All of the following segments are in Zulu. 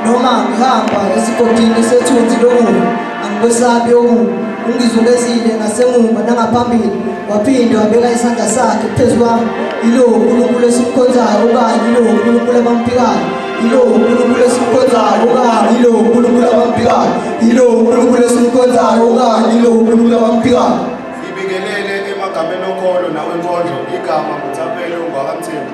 noma ngihamba esigodini sethunzi lokubi angikwesabi okubi ungizungezile ngasemuva nangaphambili waphinde wabeka isandla sakhe phezu kwami yilowo unkulunkulu esimkhonzayo okanye yilowo unkulunkulu abamphikayo yilowo unkulunkulu esimkhonzayo okanye yilowo unkulunkulu abamphikayo yilowo unkulunkulu esimkhonzayo okanye yilowo unkulunkulu abamphikayo ngibingelele emagameni okholo nawenkondlo igama nguthaphele ungwakamthembu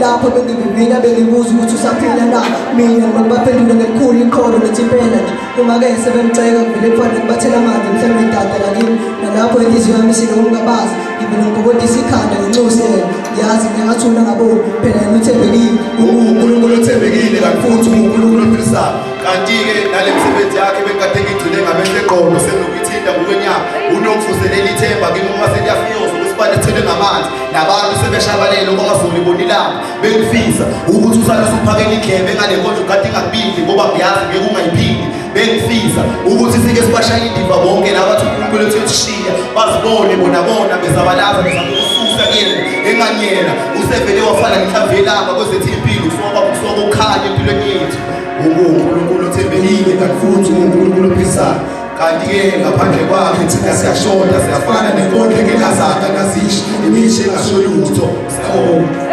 lapho bengivivina bengibuza ukuthi usaphila na mina ngibaphendula ngelikhulu iqholo ngithi impela nje uma-ke sebemceka ngivele kufanele ngibathela amanzi mhlawumbe idada lakini nalapho inhliziyo yami sinokungabazi ngivele ngigobodisa ikhanda ngenxusi yena yazi ngingathula ngaboni phela yena uthembekile unkulunkulu othembekile kanti futhi ungunkulunkulu ophilisayo kanti-ke nale msebenzi yakhe bekade ngigcine ngamehlo eqolo senokuyithinta ngokwenyama unokuvuselela ithemba kimi uma seliyafika uzobe sibane ethelwe ngamanzi nabantu sebeshabalele uma ngazoli bonilanga bengifisa ukuthi usalise uphakela indlebe ngale nkonzo kade ingakubindi ngoba ngiyazi ngeke ungayiphindi bengifisa ukuthi sike sibashaya indiva bonke laba athi unkulunkulu ethu etishiya bazibone bona bona bezabalaza bezakususa kuyena enganyela usevele wafana ngihlavelanga kwezethu impilo kusoba kusoba ukhanya empilweni yethu ungunkulunkulu othembekile kanti futhi ungunkulunkulu ophisayo kanti-ke ngaphandle kwakhe thina siyashoda siyafana nenkondlo engenazaka ngazishi imisho engasho lutho sawona